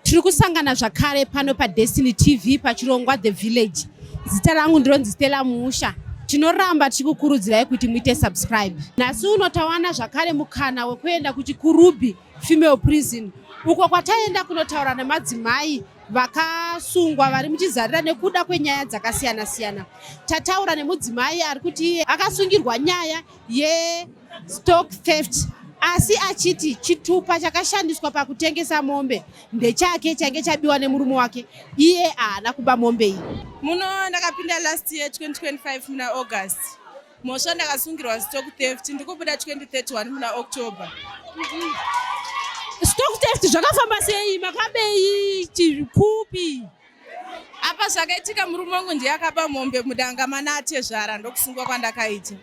tiri kusangana zvakare pano padestiny tv pachirongwa the village zita rangu ndironzi stella muusha tinoramba tichikukurudzirai kuti muite subscribe nhasi uno tawana zvakare mukana wekuenda kuchikurubhi female prison uko kwataenda kunotaura nemadzimai vakasungwa vari muchizarira nekuda kwenyaya dzakasiyana siyana tataura nemudzimai ari kuti iye akasungirwa nyaya yestock theft asi achiti chitupa chakashandiswa pakutengesa mombe ndechake chainge chabiwa nemurume wake iye haana kuba mombe iyi muno ndakapinda last year 2025 muna august Mhosva ndakasungirwa stock theft ndikubuda 2031 muna October. Stock theft zvakafamba sei makabei chikupi? Apa zvakaitika murume wangu ndiye akaba mombe mudanga mana atezvara ndokusungwa kwandakaita.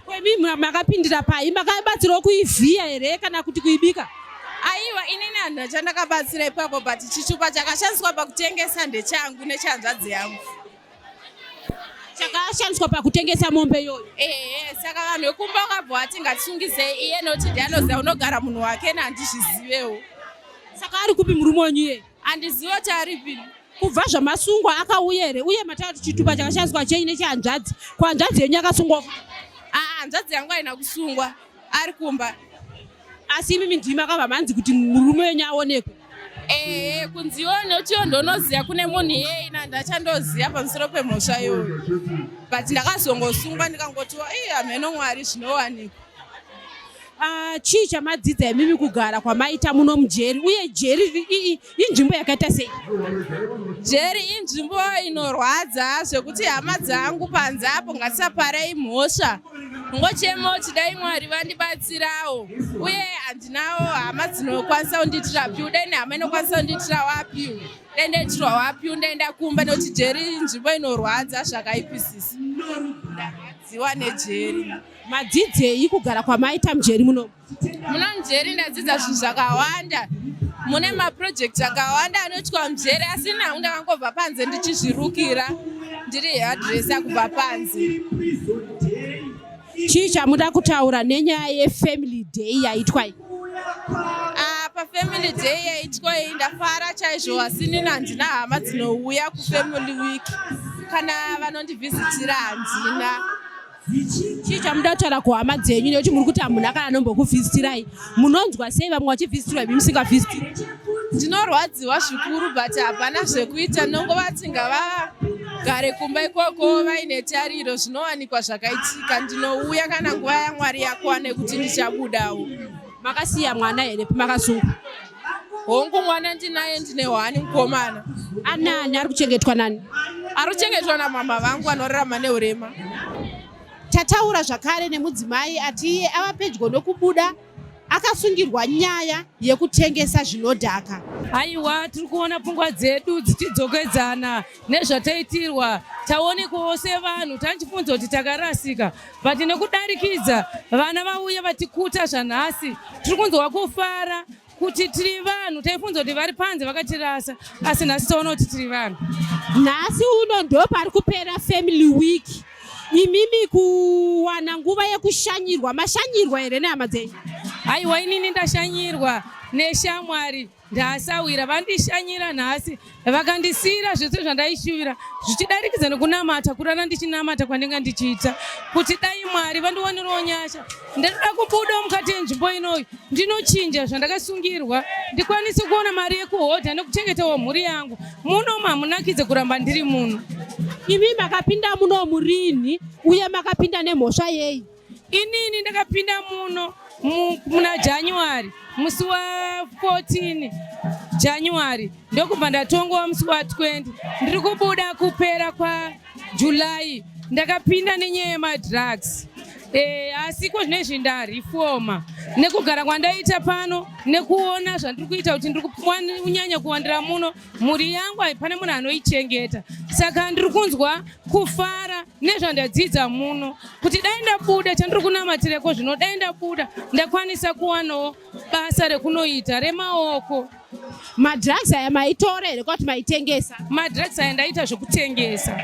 Kwemi makapindira pai? Makabatsirwa kuivhiya here kana kuti kuibika? Aiwa inini handina chandakabatsira ipapo but chichupa chakashandiswa pakutengesa ndechangu nechanzvadzi yangu. chakashandiswa pakutengesa mombe iyoyo ehe saka vanhu vekumba vakabva vati ngatisungizei iye noti ndi anoziva unogara munhu wake na handizvizivewo saka ari kupi murume wenyu iye handizivi kuti ari pini kubva zvamasungwa akauya here uye mataura kuti chitupa chakashandiswa chenyu nechihanzvadzi kuhanzvadzi yenyu akasungwa aa ah, hanzvadzi yangu aina kusungwa ari kumba asi imimi ndimi makabva manzi kuti murume wenyu aonekwe ehe eh, kunzione kuti iyo ndonoziva kune munhu iyeye na ndachandoziva pamusoro pemhosva iyoyo but ndakazongosungwa ndikangotiwa ii hameno mwari zvinowanikwa ah, chii chamadzidza imimi kugara kwamaita muno mujeri uye jeri ii inzvimbo yakaita sei jeri inzvimbo inorwadza zvekuti hama dzangu panze apo ngatisaparei mhosva ngochemo chidai mwari vandibatsirawo uye handinawo hama dzinokwanisa kundiitira piu dai nehama inokwanisa kundiitira wapiu dai ndaitirwa wapiu ndaenda kumba nekuti jeri inzvimbo inorwadza zvakaipisisa ndarwadziwa nejeri madzidzei kugara kwamaita mujeri munomu Muna Mjeri ndadzidza zvinhu zvakawanda. Mune maprojekti akawanda anoitwa Mjeri asi nangu ndakangobva panze ndichizvirukira ndiri headresa kubva panze. Chii chamuda kutaura nenyaya yefamily day yaitwa iyi? Ah, pafamily day yaitwa iyi ndafara chaizvo asi nini handina hama dzinouya kufamily week kana vanondivhizitira handina chii chamuda kutaura kuhama dzenyu nekuti muri kuti hamunhu akana anombokuvhisitirai munonzwa sei vamwe vachivhisitirwa imi musingavhisitiri ndinorwadziwa zvikuru but hapana zvekuita nongova tinga vagare kumba ikoko vaine tariro zvinowanikwa zvakaitika ndinouya kana nguva yamwari yakwane kuti ndichabudawo Makasiya mwana here pamakasunga? Hongu mwana ndinaye ndine hwani mukomana. Anani ari kuchengetwa nani? Ari kuchengetwa namama vangu anorarama neurema. Tataura zvakare nemudzimai ati iye ava pedyo nokubuda akasungirwa nyaya yekutengesa zvinodhaka. Aiwa tiri kuona pfungwa dzedu dzichidzokedzana. nezvataitirwa taonekwawo sevanhu tanchifunza kuti takarasika but nekudarikidza vana vauye vatikuta zvanhasi tiri kunzwa kufara kuti tiri vanhu taifunza kuti vari panze vakatirasa asi nhasi taona kuti tiri vanhu nhasi uno ndo pari kupera family week imimi kuwana nguva yekushanyirwa mashanyirwa here nehama dzenyu haiwa inini ndashanyirwa neshamwari Ndasawira vandishanyira nhasi vakandisiyira zvese zvandaishuvira zvichidarikidza nekunamata kurara ndichinamata kwandinga ndichiita kuti dai mwari vandiwanirawo nyasha ndinoda kubudawo mukati yenzvimbo inoyi ndinochinja zvandakasungirwa ndikwanise kuona mari yekuhodha nekuchengetawo mhuri yangu muno mamunakidze kuramba ndiri muno imi makapinda muno murinhi uye makapinda nemhosva yei Inini ndakapinda muno muna January musi wa 14 January ndokubva ndatongowa musi wa 20 ndiri kubuda kupera kwa July ndakapinda nenyaya yemadrugs e, asi ko zvine zvindarifoma nekugara kwandaita pano nekuona zvandiri kuita kuti ndiri kunyanya kuwandira muno mhuri yangu haipane munhu anoichengeta saka ndiri kunzwa kufara nezvandadzidza muno kuti dai ndabuda chandiri kunamatireko zvino dai ndabuda ndakwanisa kuwanawo basa rekunoita remaoko madrugs aya maitora here kwati maitengesa madrugs aya ndaita zvekutengesa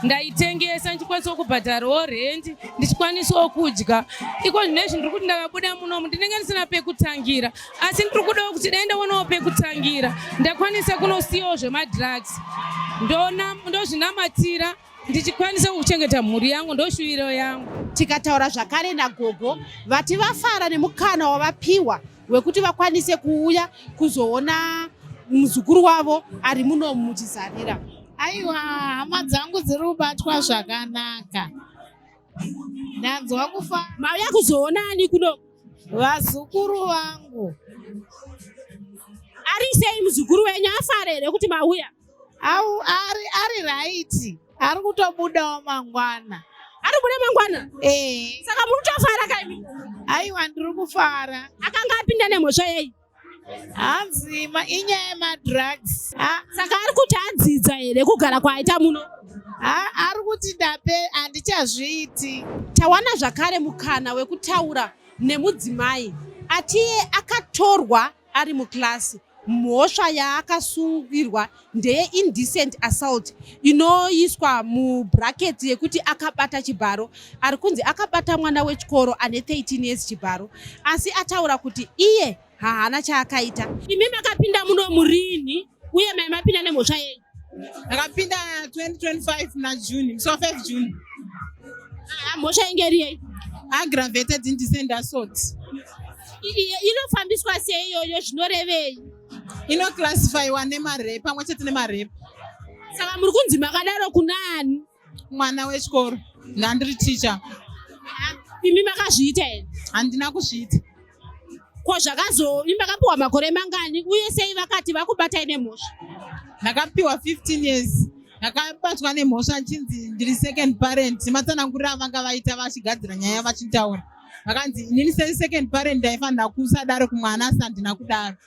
ndaitengesa ndichikwanisawo kubhadharawo rendi ndichikwanisawo kudya iko zvinezvi ndiri kuti ndakabuda munomu ndinenge ndisina pekutangira asi ndiri kudawo kuti dai ndaonawo pekutangira ndakwanisa kunosiyawo zvemadrugs ndozvinamatira ndichikwanisa kuchengeta mhuri yangu ndoshuviro yangu tikataura zvakare nagogo vati vafara nemukana wavapiwa wekuti vakwanise kuuya kuzoona muzukuru wavo ari muno muchizarira aiwa hama dzangu dziri kubatwa zvakanaka Ndanzwa kufa. Mauya kuzoona ani kuno? Vazukuru vangu. Ari sei muzukuru wenyu afara here kuti mauya? Au ari ari right. Ari kutobudawo mangwana. Ari kubuda mangwana? Eh. Saka muri kutofara kaimi? Aiwa ndiri kufara. Akanga apinda nemhosva yei? hanzi inyaya yemadrugs ah, saka ari kuti anzidza here kugara kwaaita muno ah, ari kuti ndape handichazviiti tawana zvakare mukana wekutaura nemudzimai atiye akatorwa ari mukilasi mhosva yaakasungirwa ndeye indecent assault inoiswa mubracket yekuti akabata chibharo ari kunzi akabata mwana wechikoro ane 13 years chibharo asi ataura kuti iye haana chaakaita imi makapinda muno murini uye mai mapinda nemhosva yenyu akapinda 2025 muna june musi wa 5 june ah, mhosva inge iri yei aggravated indecent assault inofambiswa seiyoyo zvinorevei inoclassifyiwa nemare pamwe chete nemare saka muri kunzi makadaro kunaani mwana wechikoro ndandiri ticha imi makazviita here handina kuzviita ko zvakazo imi makapiwa makore mangani uye sei vakati vakubatai nemhosva ndakapiwa 15 years ndakabatwa nemhosva nchinzi ndiri second parent matsanangurira avanga vaita vachigadzira nyaya vachitaura vakanzi inini second parent ndaifanira kusadaro kumwana asi handina kudaro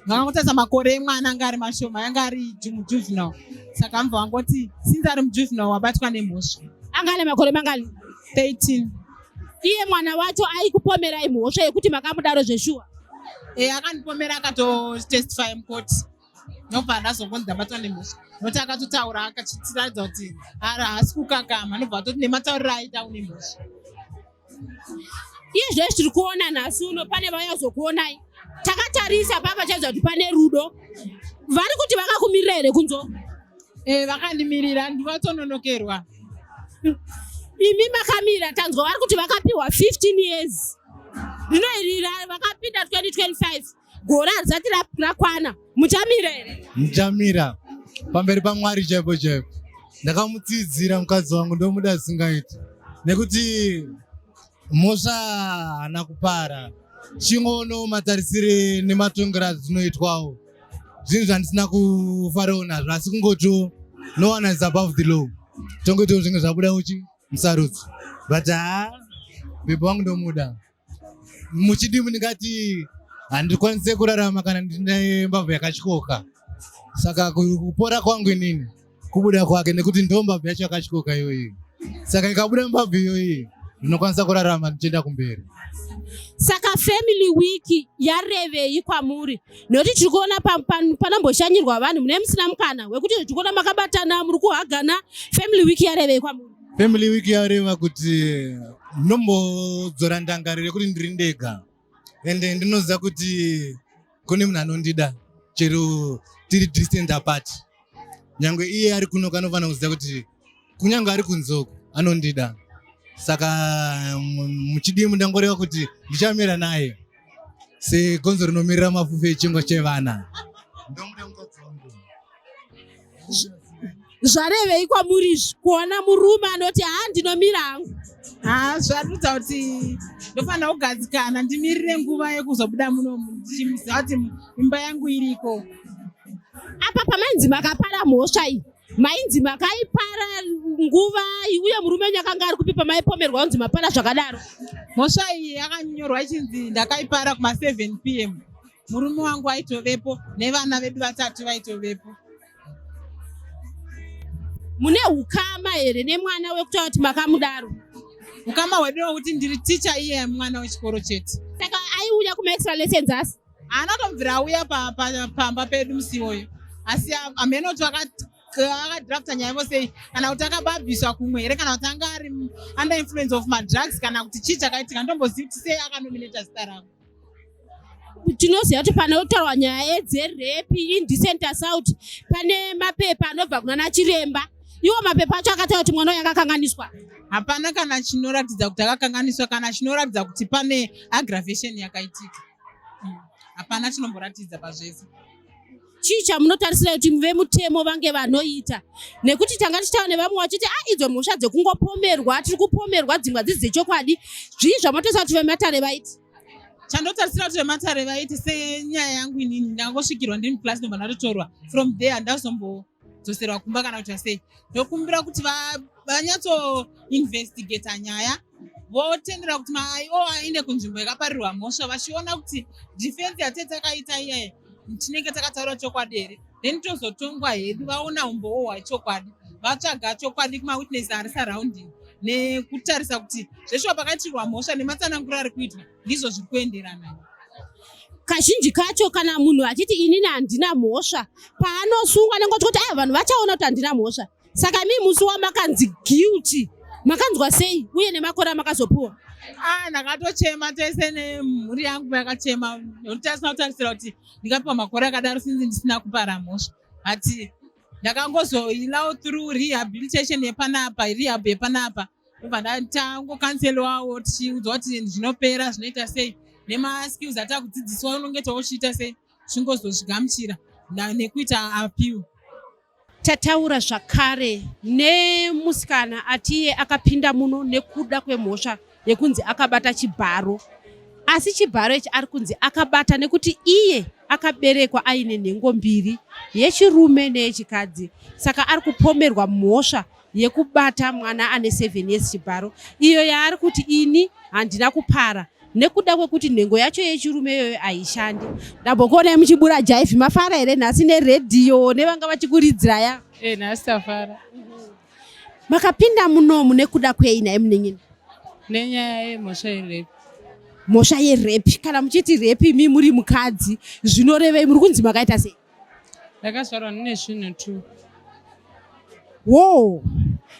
vakangotarisa makore emwana anga ari mashoma yanga ari mujuvenal saka mva vangoti since ari mujuvenal wabatwa nemhosva anga ane makore mangani 13 iye mwana wacho aikupomerai mhosva yekuti makamudaro zveshuwa e akandipomera akatotestify mukoti nobva andazongonzi ndabatwa nemhosva nokuti akatotaura akachitiratidza kuti haasi kukakama nobva atoti nematauriro aita une mhosva iye zvee zviri kuona nhasi uno pane vaya zokuonai takatarisa papa chaidza kuti pane rudo vari kuti vakakumirira here kunzo eh, vakandimirira ndivatononokerwa imi makamira tanzwa vari kuti vakapiwa 15 years rino iri vakapinda 2025 Gore harisati rakwana, muchamira here? Muchamira pamberi paMwari chaipo chaipo. Ndakamutsidzira mukadzi wangu ndomuda asingaiti nekuti mhosva haana kupara chingoono matarisire nematongero azvinoitwawo zvinhu zvandisina kufarawo nazvo asi kungotiwo no one is above the law tongoitawo zvinge zvabuda uchi musarudzi but haa bhebha wangu ndomuda muchidii mundingati handikwanise kurarama kana ndine mbabvu yakatyoka saka kupora kwangu inini kubuda kwake nekuti ndo mbabvu yacho yakatyoka iyoyi saka ikabuda mbabvu iyoyi ndinokwanisa kurarama ndichienda kumberi saka family week yarevei kwamuri nekuti tiri kuona panomboshanyirwa vanhu mune musina mukana wekuti tiri kuona makabatana muri kuhagana family week yarevei kwamuri Family week yareva kuti nombodzora ndangariro yekuti ndiri ndega ende ndinoziva kuti kune munhu anondida chero tiri distant apart nyange iye ari kuno kanofanira kuziva kuti kunyange ari kunzoku anondida saka muchidii mundangoreva kuti ndichamira naye segonzo rinomirira mafufu echingwa chevana ndomuda mukadzi wangu zvarevei kwamuri izvi kuona murume anoti haa ndinomira hangu haa zvarudza kuti ndofanira kugadzikana ndimirire nguva yekuzobuda munomu ndichimuziva kuti imba yangu iriko apa pamainzi makapara mhosva iyi mainzi makaipara nguva uye murume wenyu akanga ari kupi pamaipomerwa unzi mapara zvakadaro mhosva iyi yakanyorwa ichinzi ndakaipara kuma 7 p m murume wangu waitovepo nevana vedu vatatu vaitovepo mune ukama here nemwana wekutaura kuti makamudaro ukama hwedu wekuti ndiri ticha iye mwana wechikoro chete saka aiuya kumaextra lessons asi anotobvira auya pamba pedu musi iwoyo asi amhene kuti akadrafta nyaya vo sei kana kuti akababviswa kumwe here kana kuti anga ari under influence of madrugs kana kuti chii chakaitika ndombozivi kuti sei akanominata zita rangu tinoziva kuti panotaurwa nyaya dzerepi indecent assault pane mapepa anobva kunana chiremba iwo mapepa acho akataura kuti mwana uyo akakanganiswa hapana kana chinoratidza kuti akakanganiswa kana chinoratidza kuti pane aggravation yakaitika hapana chinomboratidza pazvese chii chamunotarisira kuti vemutemo vange vanoita nekuti tanga tichitaura nevamwe vachiti a ah, idzo mhosva dzekungopomerwa tiri kupomerwa dzimwe hadzisi dzechokwadi zvii zvamatoisa kuti vematare vaiti chandotarisira kuti vematare vaiti senyaya yangu inini ndangosvikirwa ndini plus ndobva ndatotorwa from there ndazombozoserwa kumba kana kuita sei ndokumbira kuti vanyatsoinvestigata nyaya votendera kuti maio aende kunzvimbo yakaparirwa mhosva vachiona kuti defense yatete akaita iyaye tinenge takataura chokwadi here then tozotongwa hedu vaona umbowo hwachokwadi vatsvaga chokwadi kumawitness ari surrounding nekutarisa kuti zveshuwa pakaitirwa mhosva nematsananguro ari kuitwa ndizvo zviri kuenderana kazhinji kacho kana munhu achiti inini handina mhosva paanosungwa nengotiuti a ah, vanhu vachaona kuti handina mhosva Saka mi musi wamakanzi guilty makanzwa sei uye nemakore amakazopuwa? Ah, ndakatochema tese nemhuri yangu yakachema nekuti tasina kutarisira kuti ndikapiwa makore akadaro sinzi ndisina kupara mhosva but ndakangozoilaw through rehabilitation yepanapa rehab yepanapa obva ndatangokanselwawo tichiudzwa kuti zvinopera zvinoita sei nemaskills atakudzidziswa unonge tauchiita sei chingozozvigamuchira nekuita appeal Tataura zvakare nemusikana atiye akapinda muno nekuda kwemhosva yekunzi akabata chibharo asi chibharo ichi ari kunzi akabata nekuti iye akaberekwa aine nhengo mbiri yechirume neyechikadzi saka ari kupomerwa mhosva yekubata mwana ane 7 years chibharo iyo yaari kuti ini handina kupara nekuda kwekuti nhengo yacho yechirume iyoyo haishandi ndambokuonai muchibura jaifi mafara here nhasi neredhiyo nevanga vachikuridziraya e eh, nhasi tafara makapinda munomu nekuda kwei naye munenyini nenyaya yemhosva yerepi mhosva yerepi kana muchiti repi mi muri mukadzi zvinorevei muri kunzi makaita sei ndakazvarwa ndine svinhu two wo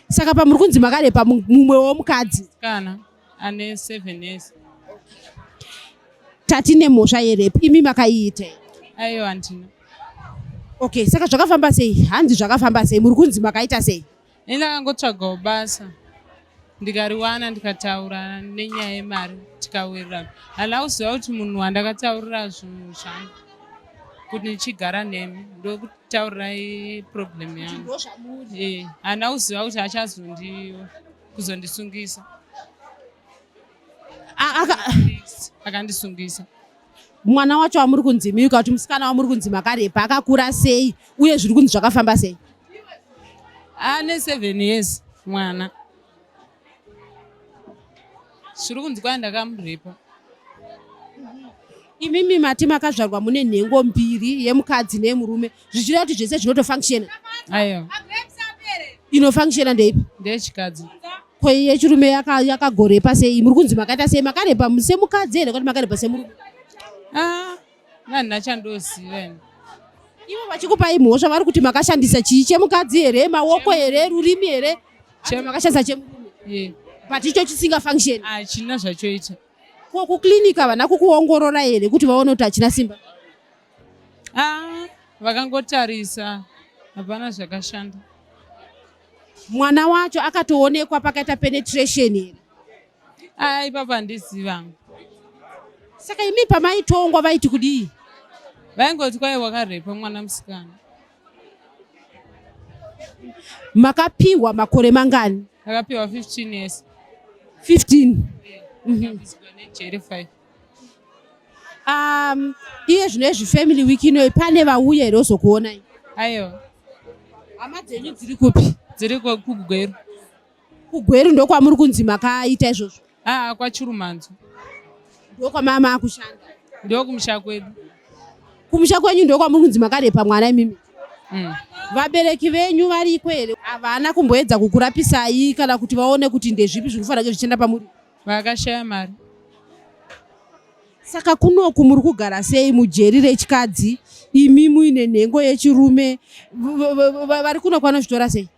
saka pamuri kunzi makarepa mumwe womukadzi kana ane seven years tati nemhosva yerepi imi makaiitei aiyo handina okay saka zvakafamba sei hanzi zvakafamba sei muri kunzi makaita sei ini ndakangotsvagawo basa ndikariwana ndikataura nenyaya yemari tikawirirana handina kuziva kuti munhu wandakataurira zvinhu zvangu kuti ndichigara nemi ndokutaurirai problem yangu eh, handina kuziva kuti achazondi kuzondisungisa akandisungisa mwana wacho wamuri kunzi miyuka kuti musikana wamuri kunzi makarepa akakura sei uye zviri kunzi zvakafamba sei ane seven years mwana zviri kunzi kwai ndakamurepa imimi mati makazvarwa mune nhengo mbiri yemukadzi neyemurume zvichireva kuti zvese zvinotofunctiona ayo inofunctiona ndeipi ndeyechikadzi ko yechirume yakagorepa yaka sei muri kunzi makaita sei makarepa semukadzi here kuti makarepa semurume ah, vanhu vachandoziva ivo vachikupai mhosva vari kuti makashandisa chii chemukadzi here maoko here rurimi here makashandisa chemurume but icho chisinga function hachina ah, zvachoita ko kuclinic havana kukuongorora here kuti vaone kuti hachina simba ah, vakangotarisa hapana zvakashanda Mwana wacho akatoonekwa pakaita penetration here? Ah, ipapa handiziva. Saka imi pamaitongwa vaiti kudii? Vaingoti kwai wakarepa mwana musikana. Makapiwa makore mangani? Akapiwa 15 years. 15. Yeah. Mm -hmm. um, iye zvino izvi family week inoyi pane vauya here ozokuonai aiwa hama dzenyu dziri kupi dziri kugweru kugweru ndokwamuri kunzi makaita izvozvo aa kwachirumanzo ndokwamama akushanda ndokumusha kwedu kumusha kwenyu ndokwamuri kunzi makarepa mwana imimi mm. vabereki venyu variko here havana kumboedza kukurapisai kana kuti vaone kuti ndezvipi zviri kufanira zvichienda pamuri vakashaya mari saka kunoku muri kugara sei mujeri rechikadzi imi muine nhengo yechirume vari kunoku vanozvitora sei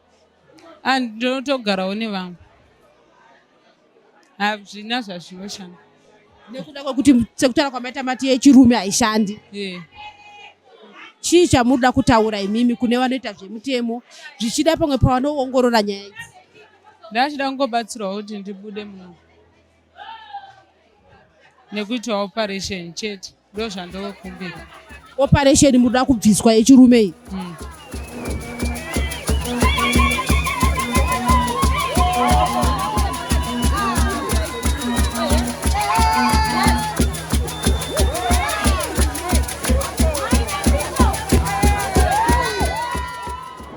ah, ndinotogarawo nevamwe hazvina zvazvinoshanda nekuda kwekuti sekutaura kwamaita mati yechirume haishandi chii chamunoda kutaura imimi kune vanoita zvemutemo zvichida pamwe pavanoongorora nyaya idzi ndachida kungobatsirwa kuti ndibude muno nekuitwa operation chete ndo zvandokumbira operation muda kubviswa yechirume iyi mm.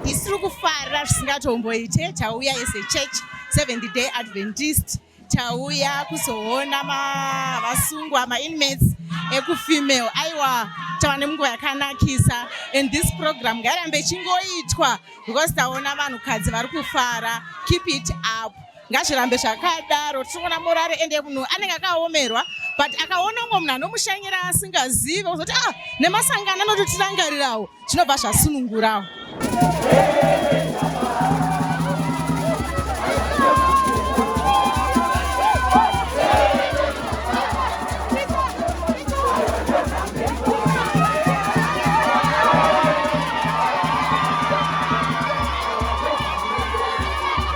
Isu tiri kufara zvisingatomboite tauya as a church seventh day adventist tauya kuzoona vasungwa mainmates ekufemale aiwa tava nemunguva yakanakisa and this program ngairambe ichingoitwa because taona vanhukadzi vari kufara keep it up ngazvirambe zvakadaro tichiona morari ende munhu anenge akaomerwa but akaona umwe munhu anomushanyira asingazive kuzoti ah nemasangano anototirangarirawo zvinobva zvasunungurawo